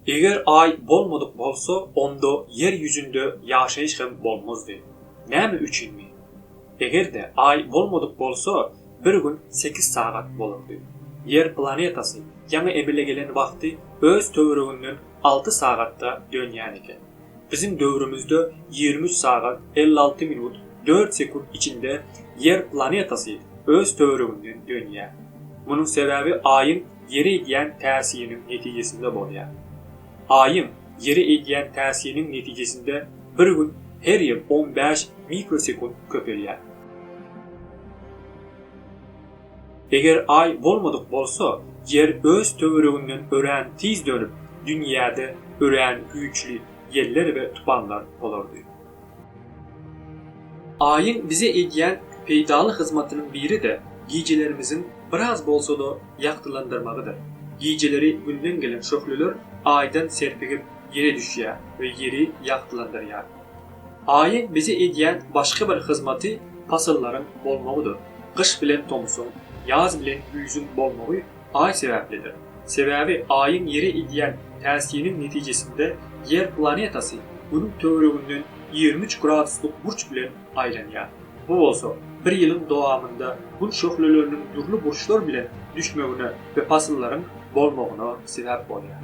Eger Aý bolmadyk bolsa, onda Ýer ýüzünde ýaşaýyş hem bolmazdy. Näme üçinmi? Eger-de Aý bolmadyk bolsa, bir gün sekiz sagat bolardy. Ýer planetasy ýaňy emele gelen wagty öz töwereginden alty sagatda dönýän eken. Biziň döwrümizde ýigrimi üç sagat, elli alty minut, dört sekunt içinde Ýer planetasy öz töwereginden dönýär. Munuň sebäbi Aýyň Ýere edýän täsiriniň netijesinde bolýar. Aýyň Ýere edýän täsiriniň netijesinde bir gün her ýyl on bäş mikrosekunt köpelýär. Eger Aý bolmadyk bolsa, Ýer öz töwereginden örän tiz dönüp, dünýäde örän güýçli ýeller we tupanlar bolardy. Aýyň bize edýän peýdaly hyzmatynyň biri-de gijelerimiziň biraz bolsa-da ýagtylandyrmagydyr. Gijeleri Günden gelen şöhleler Aýdan serpigip Ýere düşýär we Ýeri ýagtylandyrýar. Aýyň bize edýän başga bir hyzmaty pasyllaryň bolmagydyr. Gyş bilen tomsuň, ýaz bilen güýzüň bolmagy Aý sebäplidir. Sebäbi Aýyň Ýere edýän täsiniň netijesinde Ýer planetasy Günüň töwereginden ýigrimi üç graduslyk burç bilen aýlanýar. Bu bolsa bir ýylyň dowamynda Gün şöhleleriniň dürli burçlar bilen düşmegine we pasyllaryň bolmagyna sebäp bolýar.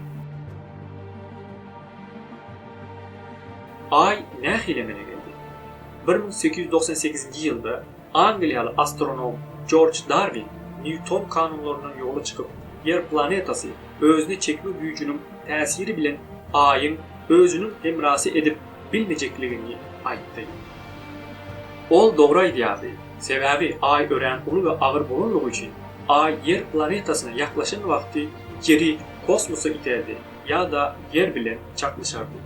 Aý nähili emele geldi? Bir müň sekiz ýüz togsan sekizinji ýylda angliýaly astronom Jorj Darwin Nýuton kanunlaryndan ýola çykyp, Ýer planetasy özüne çekme güýjüniň täsiri bilen Aýyň özüniň hemrasy edip bilmejekligini aýtdy. Ol dogry aýdýardy, sebäbi Aý örän uly we agyr bolanlygy üçin, Aý Ýer planetasyna ýaklaşan wagty Ýeri kosmosa iterdi. ýa-da ýer bilen çaknyşardy.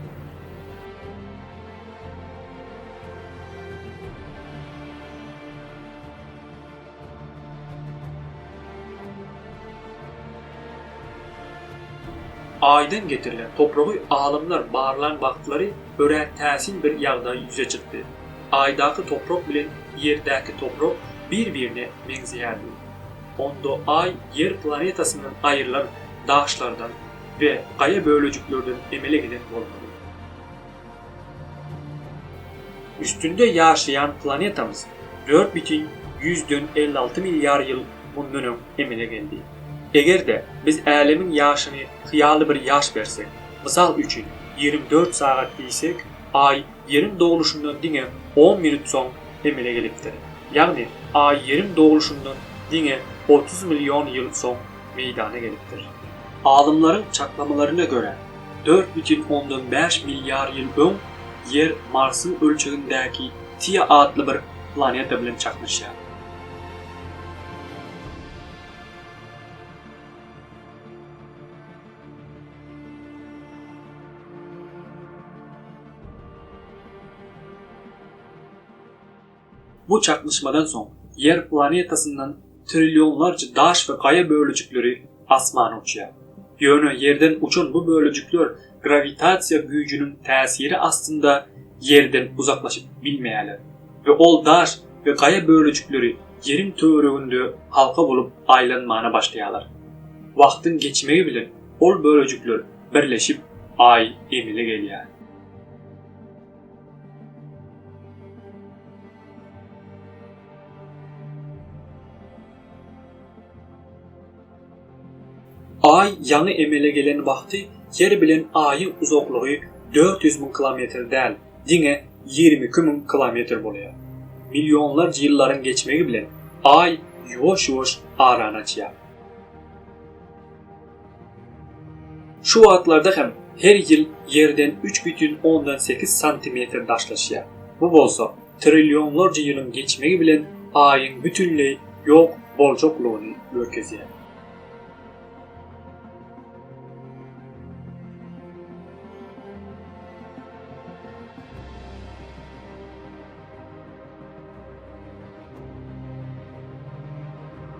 Aýdan getirilen topragy alymlar barlan wagtlary örän täsin bir ýagdaý ýüze çykdy. Aýdaky toprak bilen ýerdäki toprak bir-birine meňzeýärdi. Onda Aý Ýer planetasyndan aýrylan daşlardan we gaýa bölejiklerden emele gelen bolmaly. Üstünde ýaşaýan planetamyz dört bütin ýüzden elli alty milliard ýyl mundan öň emele geldi. Eger-de biz Älemiň ýaşyny hyýaly bir ýaş bersek, mysal üçin, ýigrimi dört sagat diýsek, Aý Ýeriň dogluşyndan diňe on minut soň emele gelipdir. Ýagny Aý Ýeriň dogluşyndan diňe otuz million ýyl soň meýdana gelipdir. Alymlaryň çaklamalaryna görä, dört bütin ondan bäş milliard ýyl öň Ýer Marsyň ölçegindäki Tiýa atly bir planeta bilen çaknyşýar. Bu çaknyşmadan soň Ýer planetasyndan trillionlarça daş we gaýa bölejikleri asmana uçýar. Ýöne Ýerden uçan bu bölejikler grawitasiýa güýjüniň täsiri astynda Ýerden uzaklaşyp bilmeýärler we ol daş we gaýa bölejikleri Ýeriň töwereginde halka bolup aýlanmana başlaýarlar. Wagtyň geçmegi bilen ol bölejikler birleşip Aý emele gelýär. Aý ýaňy emele gelen wagty Ýer bilen Aýyň uzaklygy dört ýüz müň kilometr däl, diňe ýigrimi iki müň kilometr bolýar. Millionlarça ýyllaryň geçmegi bilen Aý ýuwaş-ýuwaş arany açýar. Şu wagtlarda hem her ýyl Ýerden üç bütin ondan sekiz santimetr daşlaşýar. Bu bolsa trillionlarça ýylyň geçmegi bilen Aýyň bütinleý ýok boljaklygyny görkezýär.